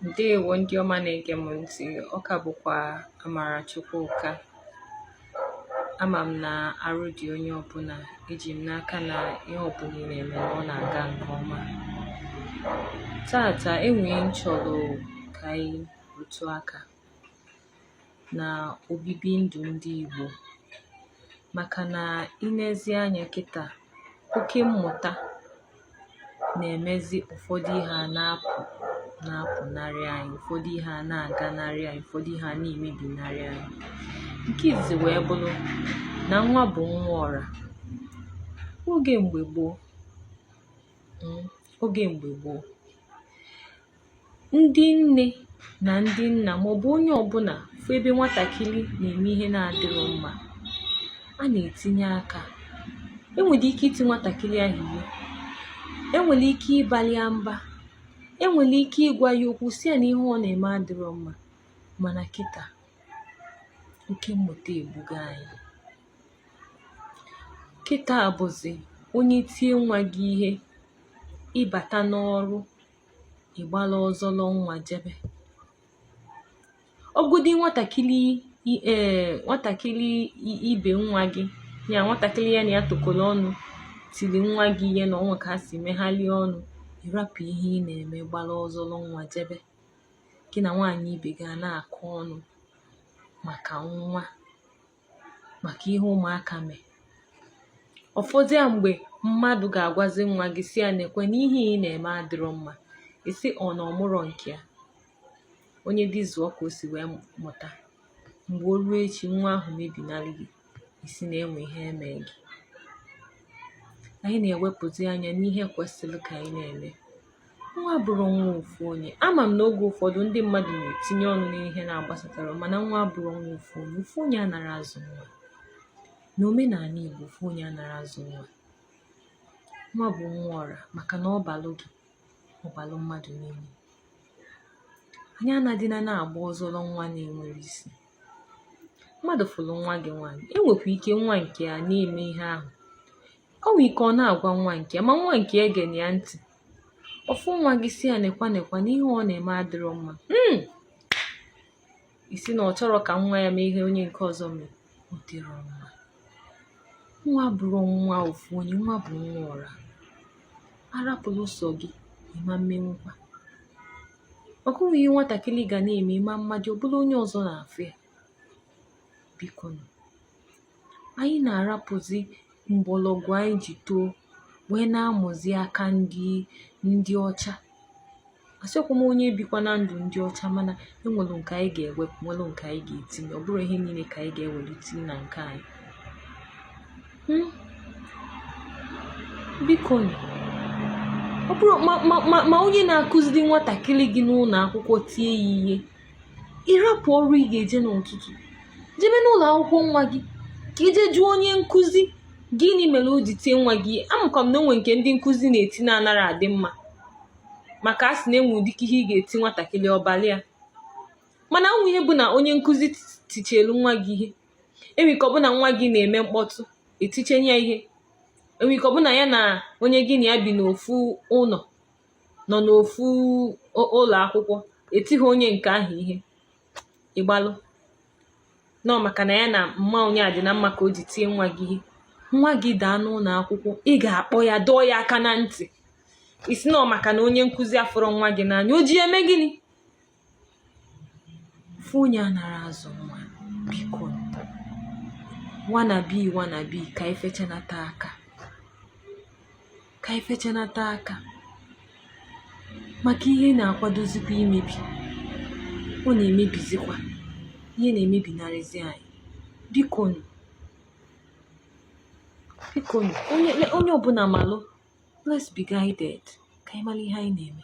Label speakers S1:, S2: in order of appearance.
S1: ndewo ndị ọma na-ege m ntị ọ ka bụkwa amarachukwu ụka ama m na arụ dị onye ọbụla eji m n'aka na ihe ọbụla ị na-eme na ọ na-aga nke ọma taata e nwere ihe m chọrọ ka anyị rụtụ aka na obibi ndụ ndị Igbo maka na ị nezi anya kịta oke mmụta na-emezi ụfọdụ ihe a na-apụnarị anyị ụfọdụ ihe a na-aganarị anyị ụfọdụ ihe a na-emebinarị anyị nke izizi wee bụrụ na nwa bụ nwa ọra oge mgbe gboo hmm, oge mgbe gboo ndị nne na ndị nna maọbụ onye ọbụla fụ ebe nwatakịrị na-eme ihe na-adịrọ mma a na-etinye aka e nwere ike iti nwatakịrị ahụ ihe e nwere ike ịbali ya mba e nwere ike ịgwa ya okwu sị ya na ihe ọ na-eme adịrọ mma mana kịta oke mmụta egbugo anyị kịta bụzi onye tie nwa gị ihe ị bata n'ọrụ ị gbala ọzọlọ nwa jebe ọbụgodi nwatakịrị ee nwatakịrị ibe nwa gị ya nwatakịrị ya na ya tokọrọ ọnụ tiri nwa gị ihe na o nwe ka ha si megharịa ọnụ ị rapụ ihe ị na-eme gbara ọzọlọ nwa jebe gị na nwaanyị ibe gị a na-akọ ọnụ maka nwa maka ihe ụmụaka mee ọ fọzia mgbe mmadụ ga-agwazi nwa gị sị ya neekwa na ihe ị na-eme adịrọ mma ị sị ọ na ọ mụrọ nke ya onye dị zụọ ka o si wee mụta mgbe o ruo echi nwa ahụ mebinarị gị ị sị na e nwe ihe e me gị anyị na-ewepụzi anya n'ihe kwesịrị ka anyị na-eme nwa abụrọ nwa ofu onye ama m na oge ụfọdụ ndị mmadụ na-etinye ọnụ n'ihe na-agbasatarọ ha mana nwa abụrọ nwa ofu onye ofu onye anarọ azụ nwa na omenala Igbo ofu onye anarọ azụ nwa nwa bụ nwa ọra maka na ọ balụ gị ọ balụ mmadụ niile anyị anadịna na-agba ọzọlọ nwa na-enwerọ isi mmadụ fụrụ nwa gị nwaanyị e nwekwa ike nwa nke ya na-eme ihe ahụ O nwee ike ọ na-agwa nwa nke ya ma nwa nke ya egena ya ntị. Ọ fụ nwa gị sị ya nekwa nekwa na ihe ọ na-eme adịrọ mma. Hmm! Ị sị na ọ chọrọ ka nwa ya mee ihe onye nke ọzọ mee. Ọ dịrọ mma. Nwa abụrọ nwa ofu onye, nwa bụ nwa ọra. A rapụlụ sọ gị, ị ma emenwukwa. Maka o nwe ihe nwatakịrị ga na-eme ịma mmadụ, ọ bụlụ onye ọzọ na-afụ ya. Biko nụ. Anyị na-arapụzi mgbọrọgwụ anyị ji too wee na-amụzi aka ndị ọcha. Asịkwa m onye bikwana ndụ ndị ọcha mana e nwere nke anyị ga-ewepụ nwere nke anyị ga-etinye ọ bụrọ ihe niile ka anyị ga-ewere tinye na nke anyị. Hmm? Biko nụ, ọ bụrụ ma onye na-akụziri nwatakịrị gị n'ụlọ akwụkwọ tie ya ihe ịrapụ ọrụ ị ga-eje n'ụtụtụ jebe n'ụlọ akwụkwọ nwa gị ka i je jụọ onye nkụzi gịnị mere o ji tie nwa gị ihe amakwa m na o nwe nke ndị nkụzi na-eti na-anara adị mma maka a sị na e nwe ụdịka ihe ị ga-eti nwatakịrị ọbalị ya mana ụmụ ihe bụ na onye nkụzi tichelu nwa gị ihe e nwe ike ọ bụ na nwa gị na-eme mkpọtụ e tichenye ya ihe e nwe ike ọ bụ na ya na onye gị na ya bi n'ofu ụlọ nọ n'ofu ụlọ akwụkwọ etighị onye nke ahụ ihe ị gbalụ na ọ maka na ya na mma onye a dị na mma ka o ji tie nwa gị ihe nwa gị daa n'ụlọ akwụkwọ ị ga-akpọ ya dọọ ya aka na ntị ị sị na ọ maka na onye nkụzi afụrọ nwa gị n'anya o ji eme gịnị ofu onye anara azụ nwa biko wannabe wannabe ka i fechanata aka ka i fechanata aka maka ihe na-akwadozikwa imebi ọ na-emebizikwa ihe na-emebinarịzi anyị biko nụ biko onye ọbụla malụ let's be guided ka anyị mara ihe anyị na-eme